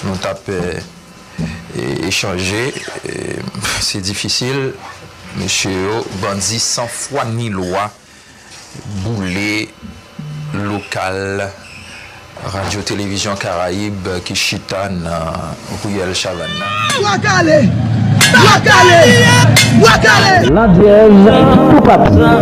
Nou tap echanje se difisil mesye yo bandi san fwa ni lwa boule lokal radyo televizyon karayib ki chita nan riyèl chavann nan. Bwa kale! Bwa kale! Bwa kale! Landyèz tou patou.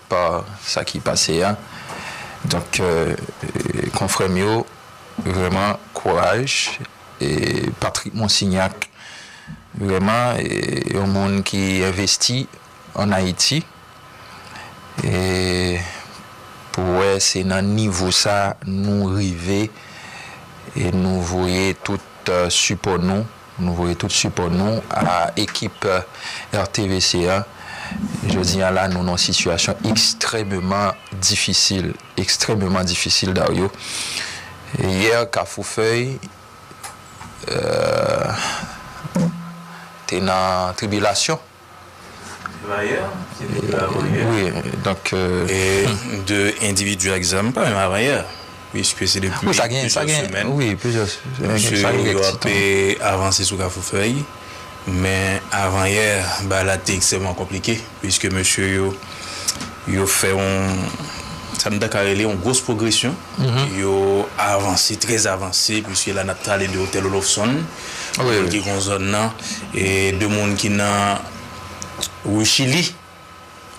pa sa ki pase a donk konfrèm yo vrèman kouraj e Patrick Monsignac vrèman yon moun ki envesti an Ayiti e pou wè se nan nivo sa nou rive e nou voye tout sipò nou. Nou voye tout sipò nou a ekip RTVC an. Jodi an la nou nan yon sitiyasyon ekstrèmeman difisil, ekstrèmeman difisil Dario. Yè Kafoufèy te nan tribilasyon. Wi, donk. E de endividi ak zam pa yon avanyè, piske se depi plizyè semèn mesye yo ap avanse sou Kafoufèy. Men avanyè bagay la te ekstrèmman konplike, piske mesye yo fè yon, sa nou ta ka rele yon gwos pwogresyon. Yo avanse, trè avanse, piske la n ap pale de Otèl Olofsonn. Kote ki gon zòn nan, 2 moun ki nan rue Chili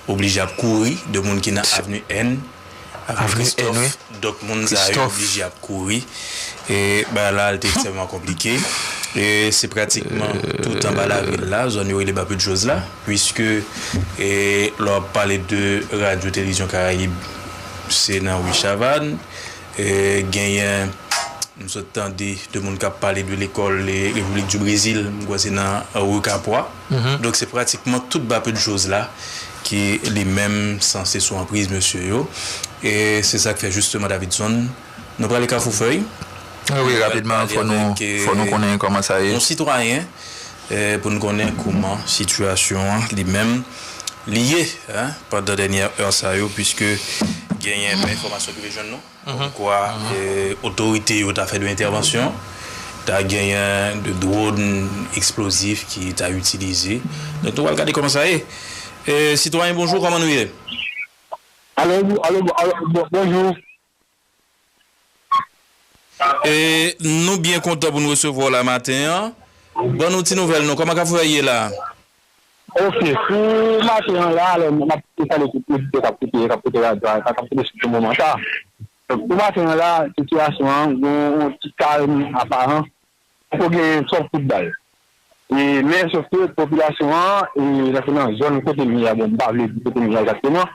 oblije ap kouri, 2 moun ki nan avenue N, avenue Christophe, dòt moun sa yo oblije ap kouri. Bagay la te ekstrèmman konplike. Se pratikman tout anba lavil la, zòn yo rele Bas-Put-Joz la, puiske lè w ap pale de radyo Televizyon Karayib, se nan rue Chavanne, Genyen m sot tande 2 moun kap pale de lekòl Repiblik di Brezil, m kwè se nan Rue Capois. Donk se pratikman tout ba peu de chose la ki li menm sanse sou anpriz mesye yo. E se sa k fè jisteman Davidson, nou prale Kafoufèy, nou pral pale avèk yon sitwayen pou n konnen kouman sitiyasyon an li menm li ye pandan dènyè è sa yo puiske genyen yon enfòmasyon ki rive jwenn nou kòmkwa otorite yo ta fè 2 entèvansyon ta genyen 2 dwòn eksplozif ki ta itilize donk nou pral gade kòman sa ye sitwayen bonjou kòman nou ye? Alo, alo, bon, bonjou. E nou byen kontan pou nou resevwa w la maten an. Ban nou ti nouvèl nou, kòman Kafou Vèy ye la a? Ok, pou maten an la a, alò m ap tou salye tout oditè k ap koute, k ap koute radyo a, k ap koute sou ti moman sa a. Donk pou maten an la a, sitiyasyon an gen yon ti kalm aparan, poko gen twòp kout bal. E men sofke popilasyon an, e nan zòn kote m ye a, bon m pa vle di kote m ye a egzakteman,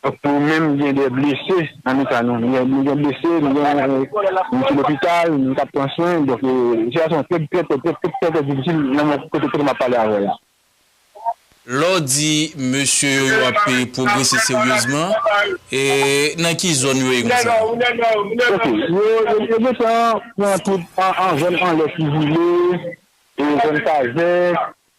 Nou menm gen de blese nan mitan nou. Nou gen blese, nou gen moun ki lopital, moun kap pran swen. Donk sitiyasyon an trè trè trè difisil nan mwen kote map pale avèw la. Lè w di mesye yo yo ap pwogrese seryezman, nan ki zòn yo ye konsa? Ok, yo gentan pran tout zòn anlè Tivile, zòn Kazèk.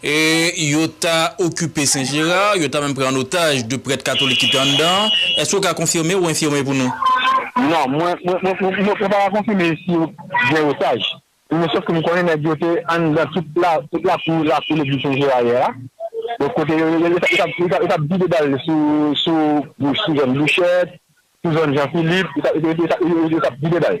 E yo ta okipe Sen Jera, yo ta menm pran an otaj 2 prèt katolik ki te anndan an. Èske ou ka konfime ou enfime pou nou? Non, mwen pa ka konfime si yo gen otaj. Men sof ke m konnen nèg yo te anndan tout lakou legliz Sen Jera yè a. Donk kote yo yo tap vide bal sou zòn Bouchèt, sou zòn Jan Filip, yo tap vide bal.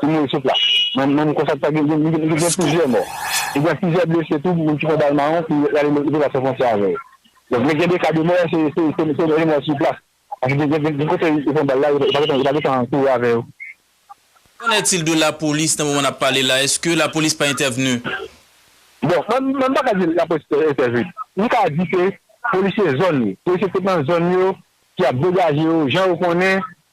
Ti moun sot la. Manm konsa ki ta gen plizyè mò. Li gen plizyè blese tou, moun ki pran bal mawon ki ale lopital san fwontyè avè yo. Donk lè gen 2 ka de mò se mò sou plas. Paske gen kote yo pran bal la yo pa gentan kouri avè yo. Qu'en est-il de lapolis nan moman n ap pale la? Eske lapolis pa entèvni? Bon, mwen pa ka di lapolis pa entèvni. Mwen ka di ke polisye zòn yo, polisye ki nan zòn yo ki ap degaje yo jan yo konnen.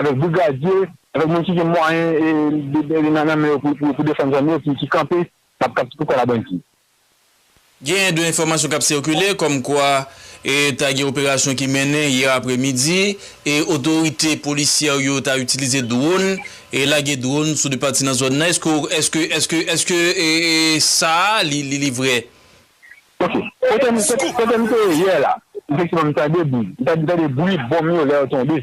Avèk brigadye, avèk moun ki gen mwayen nan men yo pou defann zòn yo ki kanpe kap kite kòl a bandi. Genyen 2 enfòmasyon kap sikile kòm kwa ta gen operasyon ki mennen yè aprè midi e otorite polisyè yo ta itilize dwòn e lage dwòn sou 2 pati nan zòn nan eske ou eske eske eske sa a li vrè? Ok. Kote m te ye yè la, efektivman m tande bri. M tande bri bonm yo lè yo tonbe.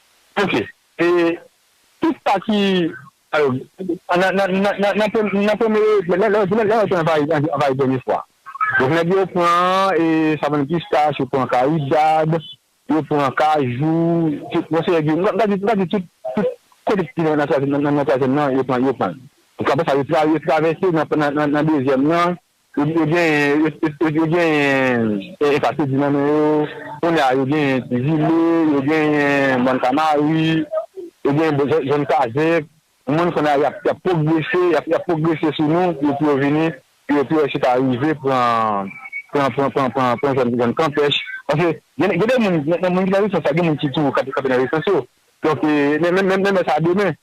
Ok e tout sa ki alo nan nan nan nan premye nan premye lè lè lè lè yo te anvayi anvayi dènye fwa donk nèg yo pran e savann pistache yo pran karidad yo pran kajou tout yon seri m ta di m ta di tout tout kote ki nan nan twazyèm nan nan nan twazyèm nan yo pran yo pran l donk apresa yo tra yo travèse nan nan nan dezyèm nan Yo genyen Efatedi nan men yo, kounye a yo genyen Ti Zile, yo genyen Mòn Kanari, yo genyen zòn Kazèk. Moun kounye a y ap pwogrese, y ap pwogrese sou nou pou yo vini, pou yo pwese ta rive pran zòn Kanpèch. Paske gen de moun, nan moun ki nan rezistans la, gen moun ki toujou kanpe nan rezistans yo. Donk, men men sa demen.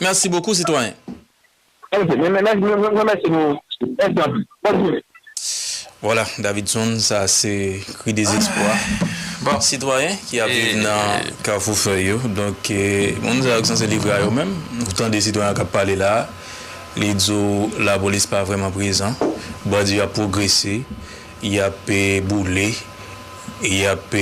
Merci beaucoup citoyen. Ok mwen remèsye nou mèsi anpil bòn jounen. Voilà Davidson sa se kri dezespwa bon sitwayen ki ap viv nan kafou fèy yo donk moun sa yo ki sanse livre a yo menm ou tande sitwayen an kap pale la li di w lapolis pa vrèman prezan bandi yo ap pwogrese Y ap boule, y ap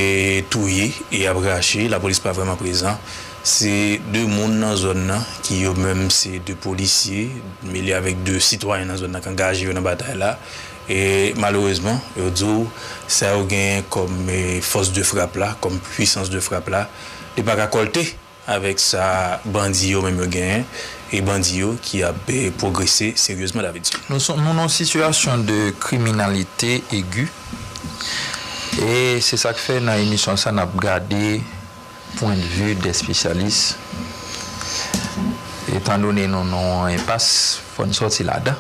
touye, y ap rache, lapolis pa vrèman prezan. Se 2 moun nan zòn nan ki yo menm se 2 polisye mele avèk 2 sitwayen nan zòn nan k angaje yo nan batay la. E malerezman, yo di w sa yo genyen kòm fòs de frap la, kòm pwisans de frap la, li pa ka kòlte. Avèk sa bandi yo menm yo genyen e bandi yo ki ap pwogrese seryezman David. Nou nan sitiyasyon de kriminalite egi e se sa k fè nan emisyon sa n ap gade pwendvi de espesyalis etandone nou nan yon enpas fò n sòti ladan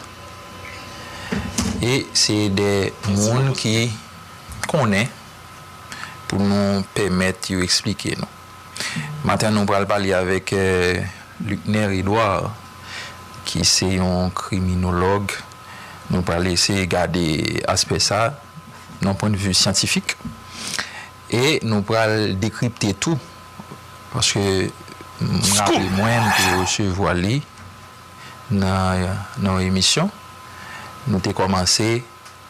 e se de moun ki konnen pou nou pèmèt yo esplike nou. Maten an nou pral pale avèk Luckner Edouard ki se yon kriminolog, nou pral eseye gade aspè sa nan pwen de vi syantifik e nou pral dekripte tou paske m raple mwen m te resevwa li nan yon emisyon nou te kòmanse.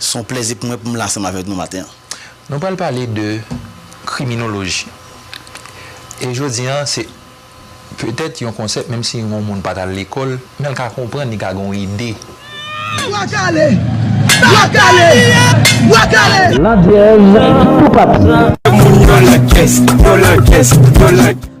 Se yon plèzi pou mwen pou m la ansanm avèk nou maten an. Nou pral pale de kriminoloji. E jodi an se petèt yon konsèp menm si yon moun pa t al lekòl men l ka konprann, li ka gen yon ide. Bwa kale! Bwa kale! Bwa kale! Landyèz tou pati. Moun yo lankès, yo lankès, yo lankès.